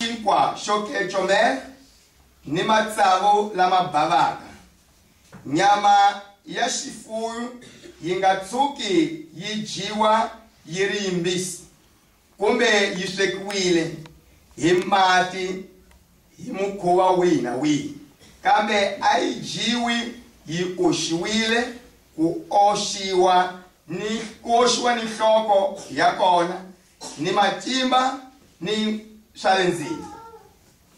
Xinkwa xo kecomer ni matsavu lama bavaka. Nyama ya xifuyu yi nga tshuki yi dyiwa yi ri yimbisi kumbe yi swekiwile hi mati hi mukhuva wihi na wihi, kambe a yi dyiwi yi oxiwile, ku oxiwa ni nhloko ya kona ni matimba ni swa le ndzeni,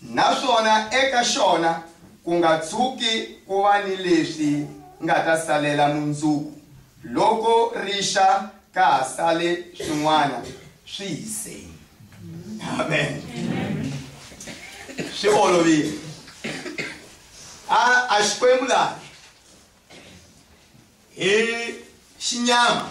naswona eka xona ku nga tshuki ku va ni leswi nga ta salela mundzuku loko rixa ka ha sale swin'wana swi hiseni. Amen. Swi olovile. A a Xikwembu laha hi xinyama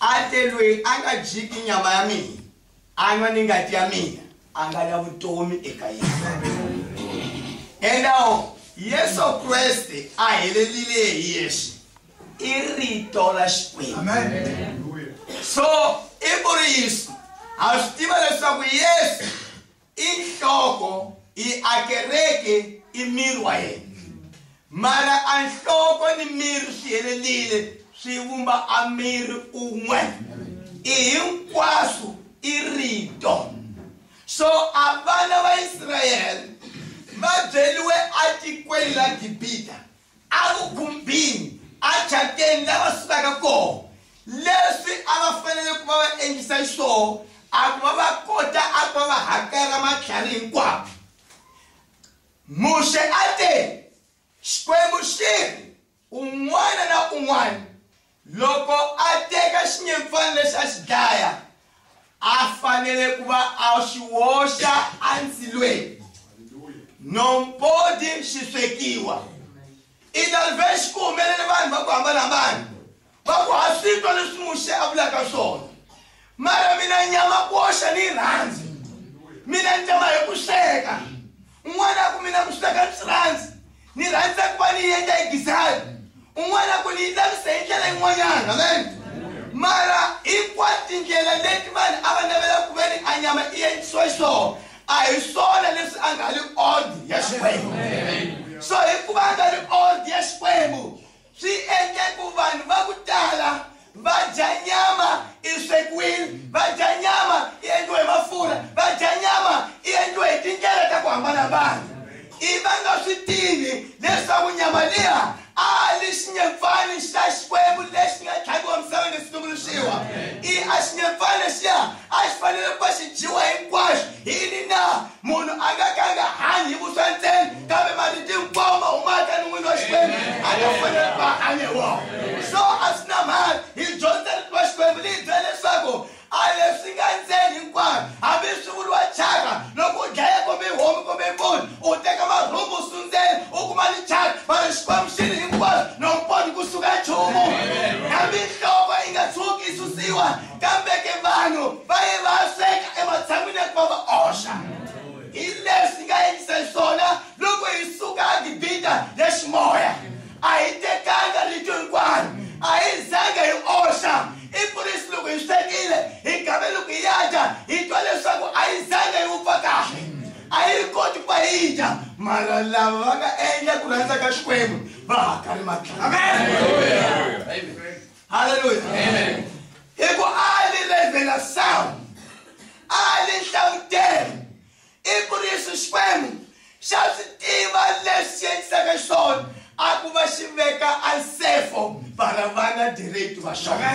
A te, Loyi a nga dyiki nyama ya mina, a nwa ni ngati ya mina, a nga na vutomi eka yena. Endawo, Yesu Kreste a helelile hi yexe, i Rito ra Xikwembu. So, i vuriso, ha swi tiva leswaku Yesu I nhloko, i a kereke, i miri wa yena. Mara a nhloko ni miri swi helelile swi vumba a miri un'we. I hinkwaswo i rito. So a vana va Israyele va byeliwe atikweni la Gibita evugumbini ejateni la va sukaka kona leswi a va fanele ku va va endlisa xiswona a ku va va kota a ku va va hakela matlhari hinkwawo muxe a te xikwembu xi ri un'wana na un'wana Loko a teka xinyempfana lexi a xi dlaya, a fanele ku va a xi woxa endzilweni no mpodi xi swekiwa. I ta ri vexi ku humelele vanhu va ku hambana-hambana va ku, Ha swi twa leswi Muxe a vulaka swona, mara mina ni nyama ku woxa ni rirhandzu, mina ni ta ma hi ku sweka. Un'wana ku mina kuswita ka swirhandzi ni rhandza ku va ni yendla hi gizani un'wana ku ni yi lavisa hi ndlela yin'wanyana amen mara hinkwato tindlela leti vanhu a va navela ku ve ni a nyama i endlisiwa xiswona a hi swona leswi a nga li ordi ya xikwembu so hikuva a nga li ordi ya xikwembu Swi endle ku vanhu va ku tala va dya nyama i swekiwile, va dya nyama i endliwe hi mafurha, va dya nyama i endliwe hi tindlela ta ku hambana-hambana, ivi va nga swi tivi leswaku nyama liya a li xinyimpfani xa Xikwembu lexi nga tlhaviwa misaveni lexi tumbuluxiwa. I a xinyimpfani lexiya a xi fanele ku va xi dyiwa hinkwaxo. Hi yini na? munhu a nga ka a nga hanyi hi vuswa ntsena kambe marito hinkwawo ma humaka ni n'wini wa xikwembu a nga fanele va hanye wona so a swi na mhaka hi dyondza rito wa xikwembu liyi byela leswaku a leswi nga ntseni hinkwaro hambi swi vuriwa chaka loko u dlaya kumbe homu kumbe mponi u teka marhumbu sundzeni u kuma ni chaka mara xikwembu xi ri hinkwaro no mponi kusuka nchumu hambi nhloko yi nga tshuki yi susiwa kambe ke vanhu va ye va sweka ematshan'wini ya ku va va oxa hi leswi nga endlisa xiswona loko hi suka gibita ya ximoya a hi tekanga rito hinkwaro a hi zanga hi oxa i ku ri loko hi swekile hi gabe loko hi ya dya hi twa leswaku a yi zanga yi wupfa kahle a yi ri koti ku va yi dya mara lava va nga endla ku rhandza ka xikwembu va hakari matlhela halleluya hi ku a li levhela sawu a li nhlangutelo i ku ri yesu xikwembu xa swi tiva leswi endlisaka xona a ku va xi veka ansefo vana vana direct va xona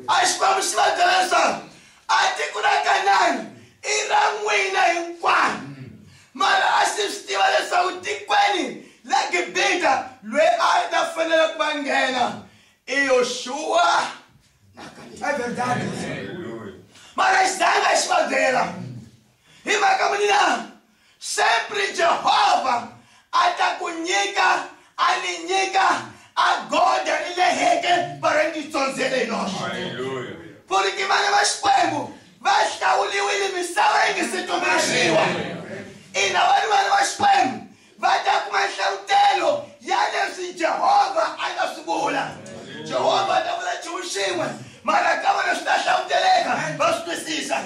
a xikwembu xi va byela leswaku A tiko ra Kanani i ra n'wina hinkwanu, mara a xi swi tiva leswaku tikweni la Gibita lweyi a a ta fanela ku va nghena i Yoxuwa na Kalebe. Mara xi zanga xi va byela. Hi mhaka muni na? Sempre Jehovha a ta ku nyika, a ni nyika agoda ri leheke para ni tsonze le noxe. Haleluya. Porque vana va Xikwembu va hlawuliwile misava yi nga se tumbuluxiwa. Ina, vanhu vana va Xikwembu va ta kuma nhlavutelo ya leswi jehovha a nga swi vula jehovha a ta vula nchumu xin'we mara ka vona swi ta hlanguteleka va swi twisisa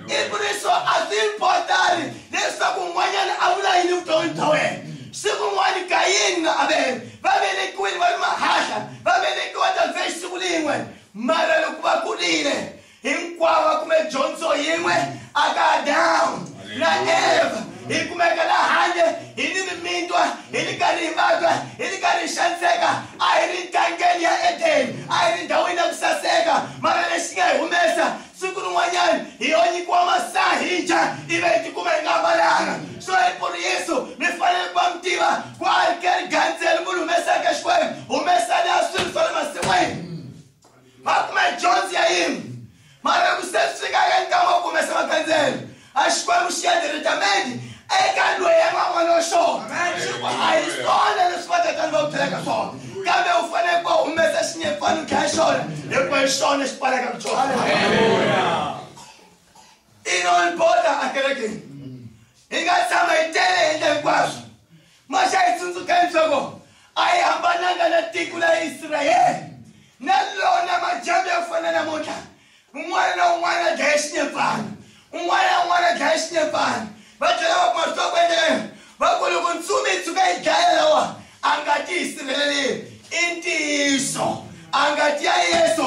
i ku ri swo a swi importani leswaku un'wanyana a vula yini vuton'wini bya wena siku n'wana kayini na avele va velekiwile va ri mahahla va velekiwa ta vhexi siku lin'we mara loko va kurile hinkwavo va kume dyondzo yin'we aka adamu na eva hi kumeka la handle hi ni mimitwa hi ri karhi hi vabya hi ri karhi hi xaniseka a hi ri ntangeni ya edeni a hi ri ndhawini ya ku saseka mara lexi nga hi humesa siku rin'wanyana hi yo nyikiwa masahija ive hi tikuma hi nga ambalanga so hi ku ri yesu mi fanele ku va mi tiva ku a ri ke ri gandzeli munhu humesaka xikwembu humesani a swilo swa le masin'wini Makume dyondzo ya yimwe mara ku se swi fika eka ntama wo kumesa makandzelo a xikwembu xi ya diretamente eka loyi a nga vona xona xi ku a hi swona leswi vatatani va ku byelaka swona kambe u fanele ku humesa xinyepfana u dlaya xona hikuva hi xona xi pfalaka ku xona inonboda akerekeni hi nga tshama hi tele hi endla hinkwaswo Maxa hi tsundzukeni swaku a hi hambananga na tiko la Israyele na lona majambu ya fana namuntlha un'wana na un'wana a dlaya xinyepfana un'wana na un'wana a dlaya xinyepfana va tlhela va kuma swa ku endleka va ku loko ntsumi yi tshuka yi dlaya lawa a nga ti yi sirheleleni i ntiyiso a nga ti ya yesu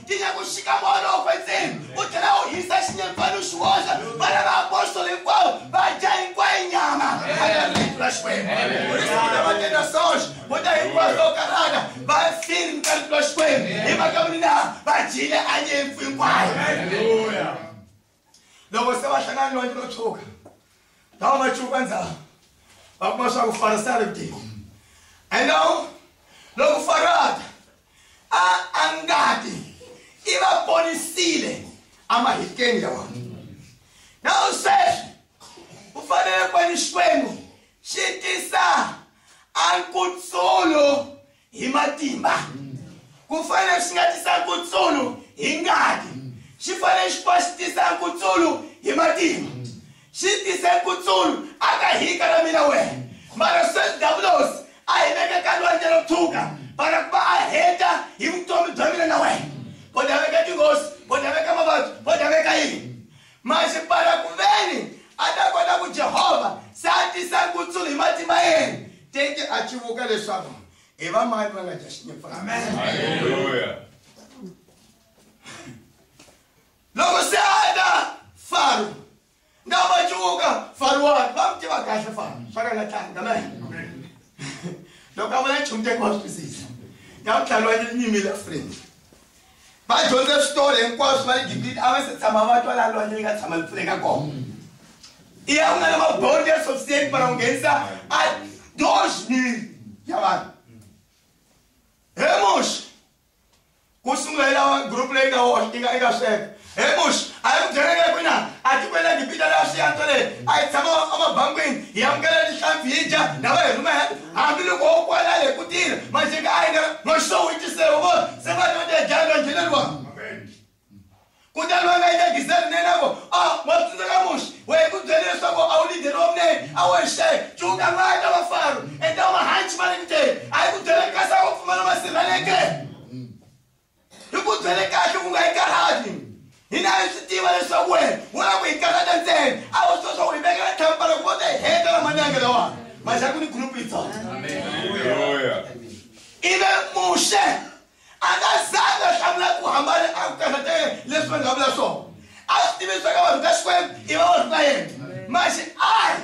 ti nga ku xika moya lowo kwetseni u tlhela u hisa xinyempfana u xi wondla vana va apostolo hinkwavo va dya hinkwayo nyama alerito ra xikwembu urisikuta va tenda soxe vo ta hinkwavo va karhata va firi ni ka rito ra xikwembu hi mhaka vuni na va dyile a nyimpfu hinkwayo loko se va hlangana lwandle ro tshuka lava va chuka ndzhaku va kuma swa ku fara se a ri kutiko and now loko farata a a ngati i va ponisile emahikeni ya wona na sweswi u fanele kwani xikwembu xi tisa a nkutsulo hi matimba ku fanele xi nga tisa nkutsulu hi ngati xi fanele xi fa xi tisa nkutsulu hi matimba xi tise nkutsulu a ka hika na mina wena mara sweswi davulos a hi veke ka lwandle ro tshuka para ku va a heta hi vutomi bya mina na wena bodaveka tinghozi bodaveka mavabyi bodaveka yini Masipala ku veni a ta kota ku Jehova se a tisa nkutsulo hi matimba yena. Tete a civuka leswaku hi vamani va nga dya xinyephana. Haleluya! Loko se a ta Faro na va civuka Faro wa va n'wi tiva kahle Faro swa ka nga tlangi amen. Loko a vula nchumu tete wa swi twisisa na vutlhari wa nyimile Afrika. va dyondze switolo hinkwaswo va le gibita a va se tshama va twa laha lwandle yi nga tshama li pfuleka kona i ya ku nga na mabodo ya sofiseti mara ku nghenisa a doxmiri ya vanhu hemoxi ku sungula yi lava group leyi nga woxe yi nga yi nga sweka hi muxi a yi n'wi byeleke ku na atikweni la gibita laha swi yantswele a hi tshama emabangwini hi amukela tihlampfi hi dya na va hi rhumela hambiloko wo kwala hi ku tile maxinga a yi nga maxowitiseo vo se va tote dya evangeleriwa kutani va nga yi ka gisele nene vo a wa tsundzuka muxi wa hi ku byele leswaku a wu lideri wa munene a wo hi xayi cuka va ta va faro enta mahanci va ri kuteni a yi ku byeleke kasi a wo pfumala masirheleke Hi ku byele kahle ku nga hi karhati. Hina hi swi tiva leswaku wena u lava ku hi karhata ntsena. A wu swi swa u hi vekela tlhampara ku va ta hi heta lamanenge lawani. Manja ku ni group yitsongo. Ivi Muxe a nga zangi a hlamula ku hambana a ku karhate leswi vanhu va vula swona. A swi tivi leswaku vanhu ka Xikwembu i va vanhu va yena. Manje a ri.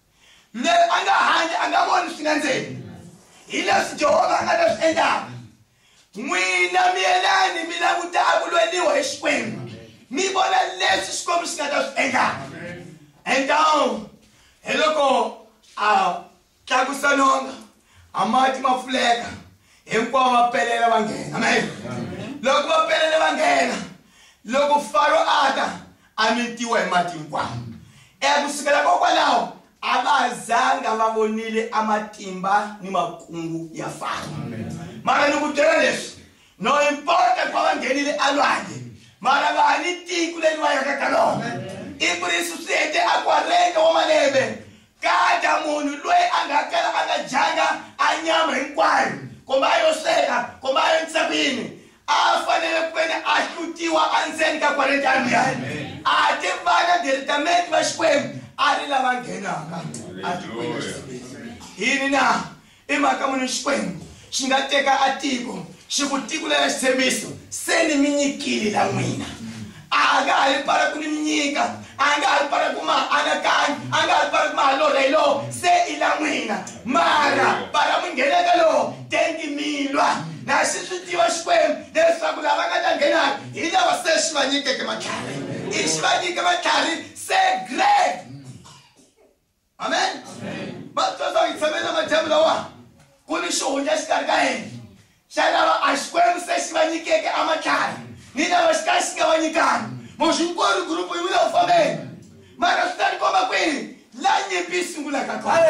loyi a nga handle a nga voni swi nga ndzeni hi leswi jehovha a nga ta swi endlaka n'wina miyelani mi languta a ku lweliwa hi xikwembu mi vona leswi xikwembu xi nga ta swi endlaka endawu hi loko a tlakusa nonga a mati ma pfuleka hinkwavo va pelela va nghena amen loko va pelela va nghena loko faro a ta a mitiwa hi mati hinkwawo. E ku sukela kokwalaho a va zanga va vonile a matimba ni makungu ya Faro. Mara ni ku byela leswi, no impota ku va va nghenile alwandle, mara va ha ni tiko leri va yaka ka lona. I ku ri swi swi hete a ku rheta wa malembe, kada munhu loyi a nga kala a nga dyanga a nyama hinkwayo, kumbe a yo sweka, kumbe a yo endlisa ku yini, a a fanele ku veni a hlutiwa endzeni ka kwale taniya a ti vana delitamenti va xikwembu a ri lava nghenaka yini na i mhaka muni xikwembu xi nga teka a tiko xi ku tikulela xitshembiso se ni mi nyikile la n'wina a nga ha yi pfala ku ni nyika a nga ha yi pfala ku ma anakanya a nga ha yi pfala ku ma halorha hi lowo se i la n'wina mara pfala mi ngheneka lowo tenti milwa na xi swi tiva xikwembu leswaku lava nga ta nghenaka hi lava se xi va nyikeke matlhari i xi va nyike matlhari se great amen va twa swa hi tshame na madyamu lawani ku ni xihundla xikarhi ka yena xa lava a xikwembu se xi va nyikeke amadlaya ni lava xi ka xi nga va nyikanga moxi hinkwaru gurupu yi vula u fambeni mara swi ta ni komba kwini la nyimpi yi sungulaka kona